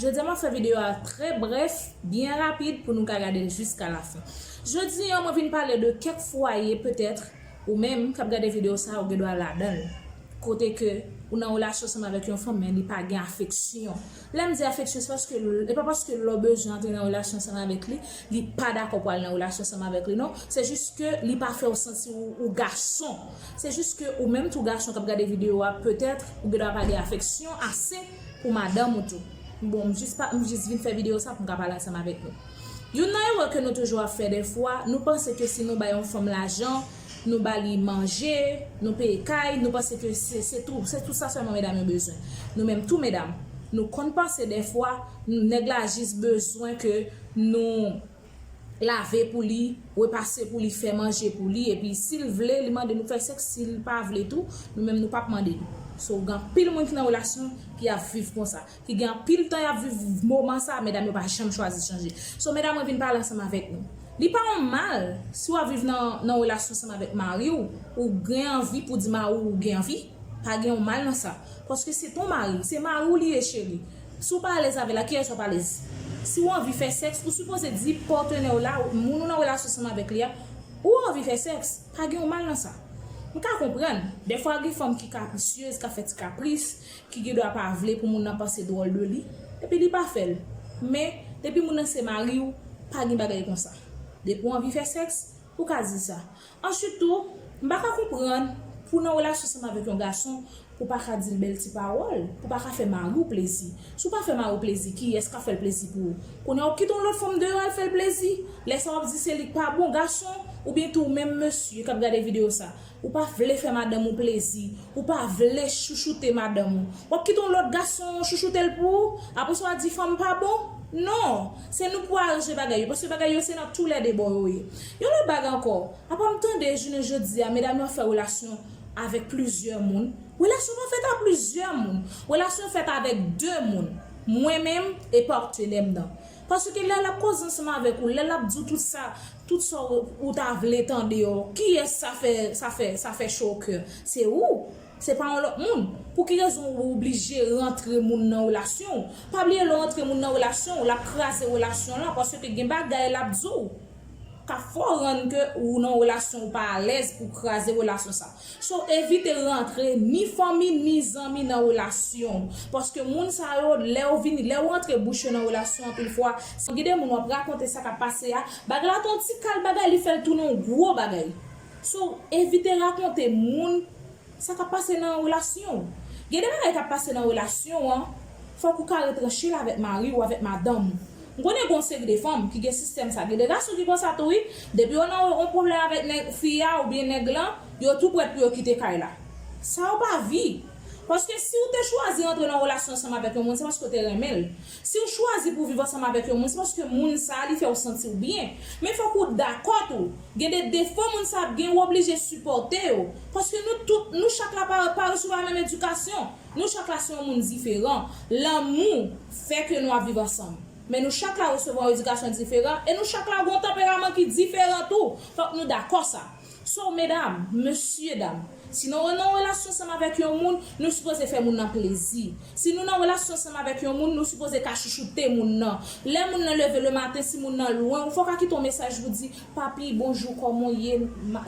Jodia map fè video a trè brèf, byen rapid pou nou ka gadel jiska la fen. Jodi an mwen vin pale de kèk fwaye petètre ou menm kap gade video sa ou gen dwa ladanl. Kote ke ou nan relasyon ansanm avèk yon fanm men li pa gen afeksyon. Lèm di afeksyon se paske e pa paske lè w bezwen antre nan relasyon ansanm avèk li, li pa dakò pou al nan relasyon ansanm avèk li non, se jis ke li pa fèw santi ou ou gason. Se jis ke ou menm tou gason kap gade video a petètre ou gen dwa pa gen afeksyon ase. pou madanm ou tou. Bon, m jis pa, m jis vin fè videyo sa pou m ka pale ansanm avèk nou. Youn nan erè ke nou toujou ap fè dèfwa, nou panse ke si nou bay yon fanm lajan, nou ba li manje, nou peye kay, nou panse ke se, se tou, se tou sa sèlman medam yo bezwen. Nou menm tou medam, nou konn panse dèfwa, nèg la jis bezwen ke nou. lave pou li, repase pou li, fè manje pou li epi sil vle li mande nou fè sèks sil pa vle tou nou menm nou pap mande li so gen anpil moun ki nan relasyon ki ap viv konsa ki gen anpil tan yap viv moman sa medam yo pa janm chwazi chanje so medam mwen vin pale ansanm avèk nou li pa yon mal si wap viv nan relasyon ansanm avèk mariw ou gen anvi pou di mariw ou gen anvi pa gen yon mal nan sa paske se ton mari se mariw li ye cheri Si w pa alèz avè l ak kiyès w ap alèz? Si w anvi fè sèks, ou sipoze di patenè w la, moun ou nan relasyon ansanm avèk li a, ou anvi fè sèks. Pa gen yon mal nan sa. M ka konprann, dèfwa gen fanm ki kaprisyez, k ap fè ti kapris, ki gen dwa pa vle pou moun nan panse dwòl de li, epi li pa fè l. Men, depi moun nan se mari w, pa gen bagay konsa. Depi w anvi fè sèks, ou ka di sa. Answit tou, m pa ka konprann pou w nan relasyon ansanm avèk yon gason pou w pa ka di l bèl ti pawòl, pou w pa ka fè mari w plezi. Si w pa fè mari w plezi, kiyès k ap fè l plezi pou ou? Kounye a w ap kite yon lòt fanm deyò al fè l plezi? Lè sa w ap di se li k pa bon? Gason, oubyen tou ou menm mesye k ap gade videyo sa, ou pa vle fè madanm ou plezi, ou pa vle chouchoute madanm ou, w ap kite yon lòt gason chouchoute l pou ou? Apre sa w a di fanm pa bon? Non! Se nou pou aranje bagay yo, paske bagay yo se nan toulède bò yo ye. Yon lòt bagay ankò, apa m tande jounen jodi a medam yo ap fè relasyon avèk plizyè moun, relasyon pa fèt a plizyè moun, relasyon fèt avèk 2 moun, mwen menm e partenè m nan. Paske lè lap koze ansanm avèk ou, lè lap di w tout sa, tout sa ou ta vle tande yo, kiyès sa fè, sa fè, sa fè cho au coeur? Se ou, se pa yon lòt moun. Pou ki rezon ou oblije rantre moun nan relasyon w? Pa bliye lè w rantre moun nan relasyon w, lap kraze relasyon lan paske gen bagay lap di w. ka fè w rann ke ou nan yon relasyon ou pa alèz pou kraze relasyon sa. So evite rantre ni fanmi ni zanmi nan relasyon w. Paske moun sa yo lè ou vini, lè ou antre bouch yo nan relasyon anpil fwa, se gen de moun wap rakonte sa kap pase a, bagay la te yon ti kal bagay li fè l tounen yon gwo bagay. So evite rakonte moun Sa kap pase nan relasyon w. Gen de bagay kap pase nan relasyon an, fòk ou ka retranche l avèk mari ou avèk madanm ou. M konnen gen yon seri de fanm ki gen sistèm sa, gen de gason ki konsa tou wi, depi yo nan yon pwoblèm avèk nèg, fi a oubyen nèg lan, yo tou prèt pou yo kite kay la. Sa yo pa vi. Paske si ou te chwazi rantre nan yon relasyon ansanm avèk yon moun, se paske ou te renmen l. Si w chwazi pou w viv ansanm avèk yon moun, se paske moun sa a li fè w santi w byen. Men fòk ou dakò tou, gen de defo moun sa a ap gen ou oblije sipòte yo. Paske nou tout, nou chak la pa pa resevwa menm edikasyon. Nou chak la se yon moun diferan. Lanmou fè ke nou ap viv ansanm. Men nou chak la resevwa yon edikasyon diferan e nou chak la gen yon tanperaman ki diferan tou. Fòk nou dakò sa. So medam, mesye dam, si nou nan relasyon ansanm avèk yon moun, nou sipoze fè moun nan plezi. Si nou nan relasyon ansanm avèk yon moun, nou sipoze ka chouchoute moun nan. Lè moun nan leve le maten, si moun nan lwen ou, fò w ka kite yon mesaj pou di, Papi, bonjou, kòman w ye?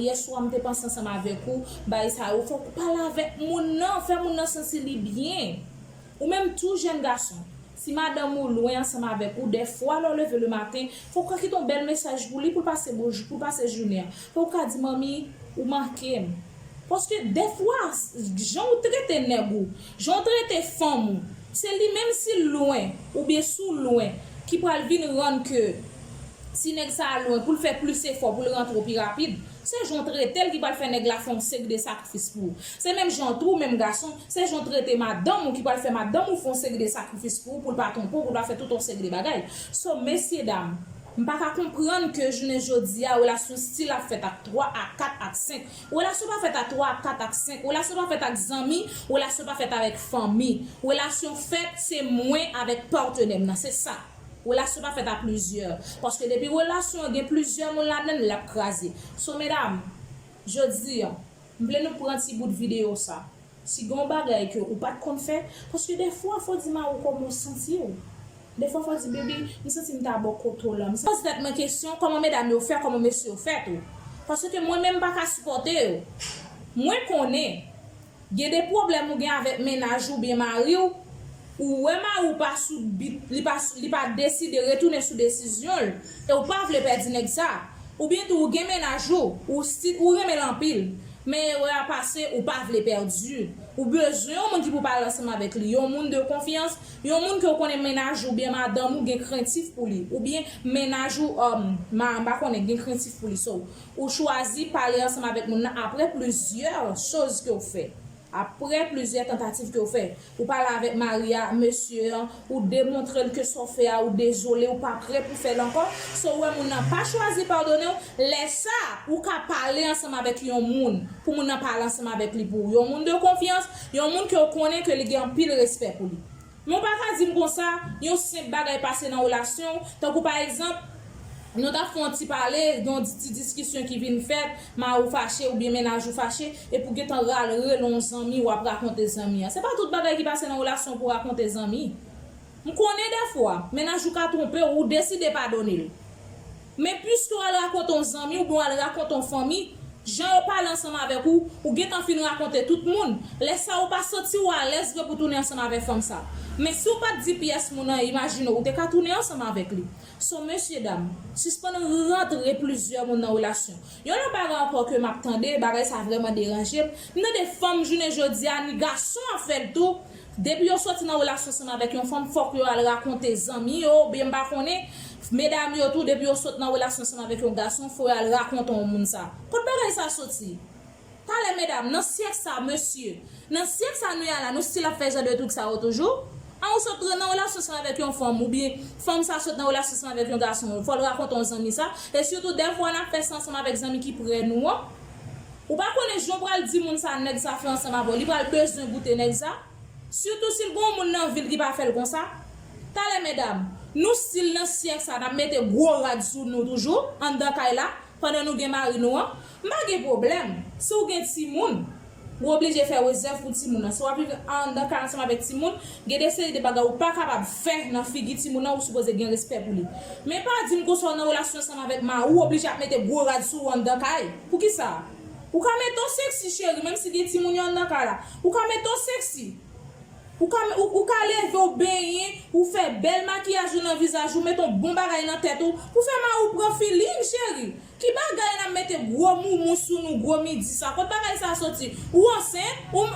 Yè swa m te panse ansanm avèk ou, bagay sa yo. Fò w pale avèk moun nan, fè moun nan santi li byen. Ou menm tou, jèn gason. Si madanm ou lwen ansanm avèk ou, dèfwa lè w leve le maten, fò w ka kite yon bèl mesaj pou li pou l pase bon pou l pase jounen an. Fò w ka di manmi, ou manke m. Paske dèfwa, jan w trete nèg ou, jan w trete fanm ou, se li menm si l lwen oubyen si w lwen ki pral vin rann ke ti nèg sa a lwen pou l fè plis efò pou l rantre w pi rapid. Se jan w trete l ki pral fè nèg la fè yon seri de sakrifis pou ou. Se menm jan tou, menm gason, se jan w trete madanm ou ki pral fè madanm ou fè yon seri de sakrifis pou ou, pou l pa twonpe w, pou l pa fè tout yon seri de bagay. So, mesyedam, m pa ka konprann ke jounen jodi a relasyon stil ap fèt ak 3, ak 4, ak 5. Relasyon pa fèt a 3, ak 4, ak 5. Relasyon pa fèt ak zanmi, relasyon pa fèt avèk fanmi. Relasyon fèt, se mwen avèk patenè m nan. Se sa. Relasyon pa fèt a plizyè paske depi relasyon an gen plizyè moun ladann lap kraze so medam jodi an m vle nou pran ti bout videyo sa si gen yon bagay ke ou pat konn fè paske defwa fò di mariw kòman ou santiw defwa fò di baby m santi m ta bò kote w lan poze tèt mwen kesyon kòman medam yo fè kòman mesye yo fè tou paske mwen menm m paka sipòte yo mwen konnen. Gen de pwoblèm ou gen avèk mennaj ou oubyen mari w, ou wè mari w pa sou bit, li pa li pa deside retounen sou desizyon l e w pa vle pèdi nèg sa. Oubyen tou ou gen mennaj ou, ou sti ou renmen l anpil, men erè a pase ou pa vle pèdi l. Ou bezwen yon moun ki pou pale ansanm avèk li, yon moun de konfyans, yon moun ke w konnen mennaj ou oubyen madanm ou gen krentif pou li, oubyen mennaj ou, um, ma, m pa konnen, gen krentif pou li. So, Ou chwazi pale ansanm avèk moun nan apre plizyè choz ke w fè. Apre plizyè tantativ ke w fè. Ou pale avèk mari a, mesye an, ou demontre l ke sa w fè a ou dezole, ou pa pre pou fè l ankò. Si w wè moun nan pa chwazi padone w, lè sa a, ou ka pale ansanm avèk yon moun, pou moun nan pale ansanm avèk li pou ou. Yon moun de konfyans, yon moun ke w konnen ke li gen anpil respè pou li. Men w pa ka di m konsa, yon senp bagay pase nan relasyon w, tankou pa egzanp, nou t ap fè yon ti pale, gen yon ti diskisyon ki vin fèt, mari w fache oubyen mennaj ou fache, epi w gentan rale rele yon zanmi w ap rakonte zanmi an. Se pa tout bagay ki pase nan relasyon w pou w rakonte zanmi. M konnen dèfwa, mennaj ou ka twonpe w, ou deside padone l. Men piske w al rakonte on zanmi oubyen w al rakonte on fanmi, jan yo pale ansanm avèk ou, ou gentan fin rakonte tout moun, lè sa ou pa santi ou alèz vre pou tounen ansanm avèk fanm sa. Men si w pa t di pyès moun anyen imajine ou te ka tounen ansanm avèk li. So mesyedam, sispann rantre plizyè moun nan relasyon. Yon lòt bagay ankò ke m ap tande, bagay sa vrèman deranje m, m tande fanm jounen jodi a ni gason ap fè l tou, Depi yo soti nan relasyon ansanm avèk yon fanm fòk yo al rakonte zanmi yo oubyen m pa konnen, medam yo tou depi yo sot nan relasyon ansanm avèk yon gason fò yo al rakonte yon moun sa. Kot bagay sa soti? Talè medam, nan syèk sa mesye, nan syèk sa nou ye a la nou stil ap fè jan de trik sa yo toujou? An ou sot nan relasyon ansanm avèk yon fanm oubyen fanm sa sot nan relasyon ansanm avèk yon gason fò l rakonte yon zanmi sa e sitou dèfwa n ap fè sa ansanm avèk zanmi ki prè nou an. Ou pa konnen jan w pral di moun sa nèg sa fè ansanm avè w li pral bezwen goute nèg sa sitou si l gen yon moun nan vi l ki pa fè l konsa talè medam nou stil nan syèk sa nap mete gwo rad sou nou toujou anndan kay la pandan nou gen mari nou an m pa gen pwoblèm si w gen timoun ou oblije fè rezèv pou timoun an si wap viv anndan kay ansanm avèk timoun Gen de seri de bagay ou pa kapab fè nan figi timoun nan ou sipoze gen respè pou li. Men pa dim konsa ou nan relasyon ansanm avèk mariw ou oblije ap mete gwo rad sou ou anndan kay. Poukisa? Ou ka mete yon sexy cheri menm si gen timoun yo anndan kay la. Ou ka mete yon sexy. Ou ka ou ka leve ou benyen ou fè bèl makiyaj ou nan vizaj ou mete yon bon bagay nan tèt ou pou fè mariw pran feeling cheri. Ki bagay la mete gwo moumou sou nou gwo midi sa kot bagay sa soti ou ansent ou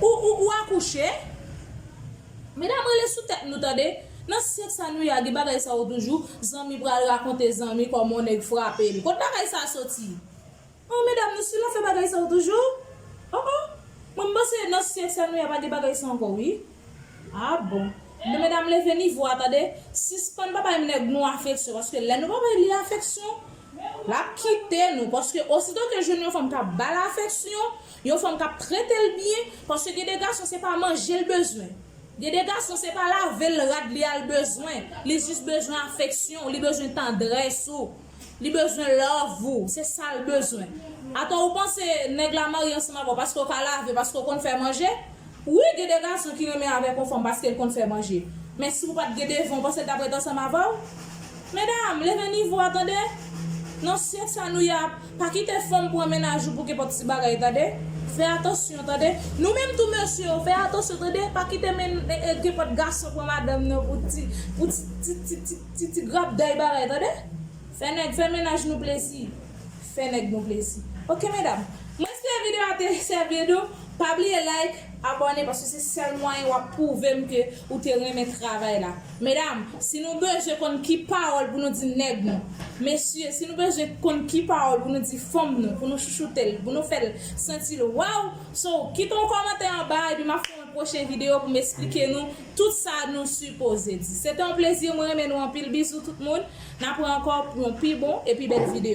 ou akouche medam rele sou tèt nou tande nan syèk sa nou ye a gen bagay sa yo toujou zanmi pral rakonte zanmi kòman yon nèg frape li kot bagay sa soti oh medam nou stil ap fè bagay sa yo toujou oh oh mwen m panse nan syèk sa nou ye a pa gen bagay sa ankò wi. Ah bon Nou medam leve nivo a tande Sispann pa bay nèg nou afeksyon paske lè nou pa bay li afeksyon Lap kite nou paske osito ke jwenn yon fanm kap bal afeksyon Yon fanm kap tretel byen paske gen de gason se pa manje l bezwen Gen de gason se pa lavel rad li a l bezwen Li jis bezwen afeksyon w li bezwen tandrès ou Li bezwen love ou, se sal bezwen. Atò ou panse nèg la marye ansanm avèw paske ou ka lave, paske ou konn fè manje. Wi gen de gason ki renmen avèk yon fanm paske li konn fè manje. Men si ou pat gen devan ou panse li tap ret ansanm avèw? Medam, leve nivo a tande! Nan syèk sa nou ye a, pa kite fanm pran mennaj ou pou kenpòt ti bagay tande! Fè atansyon tande! Nou menm tou mesye yo, fè atansyon tande! Pa kite kenpòt gason pran madanm nan pou ti ti ti ti ti. Ti ti grap day bagay tande. Fè nèg fè mennaj nou plesi. Fè nèg nou plesi ok medam. Mwen espere video a te sèvi de w. Pa bliye like, abòne paske se sèl mwayen wap pwouvem ke ou te renmen travay la. Medam si nou bezwen konn ki pawòl pou nou di nèg nou. Mesye si nou bezwen konn ki pawòl pou nou di fanm nou pou nou chouchoutel, pou nou fèl santil waw. So kite yon kòmantè anba epi map fè yon pwochen video pou m esplike nou. Tout sa nou sipoze di. Se te yon plezi mwen renmen nou anpil bizou tout moun na pran ankò pou yon pi bon e pi bèl video.